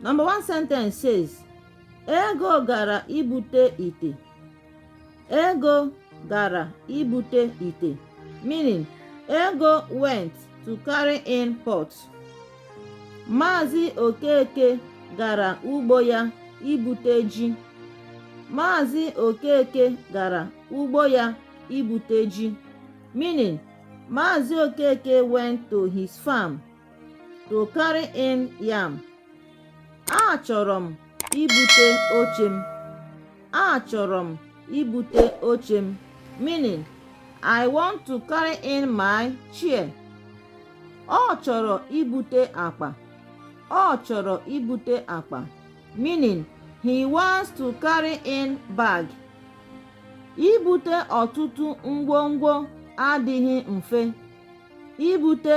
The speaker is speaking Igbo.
Number one sentence says, Ego gara ibute ite. Ego gara ibute ite. Meaning, Ego went to carry in pot. Maazị Okeke gara ugbo ya ibute ji. Maazị Okeke gara ugbo ya ibute ji. Meaning, Maazị Okeke went to his farm to carry in yam achọrọ m ibute oche m achọrọ m ibute oche m meaning I want to carry in my chair ọ chọrọ ibute akpa ọ chọrọ ibute akpa meaning he wants to carry in bag ibute ọtụtụ ngwongwo adịghị mfe ibute